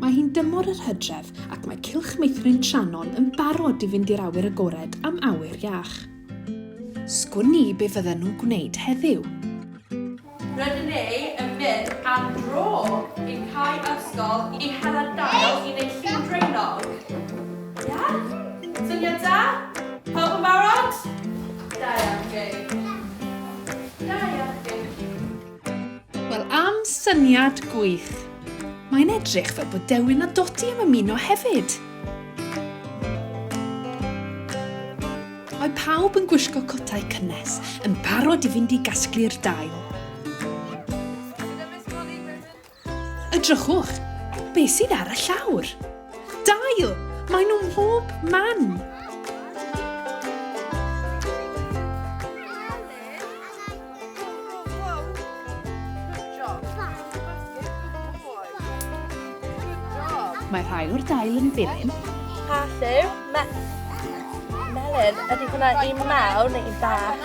Mae hi'n dymor yr hydref ac mae cylch meithrin Tranon yn barod i fynd i'r awyr agored am awyr iach. Sgwn ni be fydden nhw'n gwneud heddiw. Rydyn ni yn mynd am dro i cae ysgol i hela dail i wneud lliw draenog. Ia? Syniad da? Pawb yn barod? Da iawn, Jay. Da iawn Dewi. Wel am syniad gwych. Mae'n edrych fel bod Dewin a Dodi am ymuno hefyd. Mae pawb yn gwisgo cotau cynnes, yn barod i fynd i gasglu'r dail. Edrychwch, be sydd ar y llawr? Dail! Mae nhw mhob man! Mae rhai o'r dail yn byryn. Pa lliw? Melyn. Ydy hwnna un mawr neu un bach?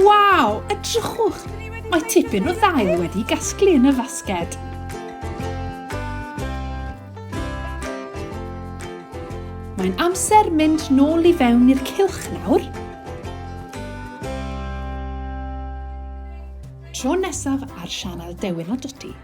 Waw, edrychwch! Mae tipyn o ddail wedi gasglu yn y fasged. Mae'n amser mynd nôl i fewn i'r cilch nawr. Tro nesaf ar sianel Dewin a Dwti.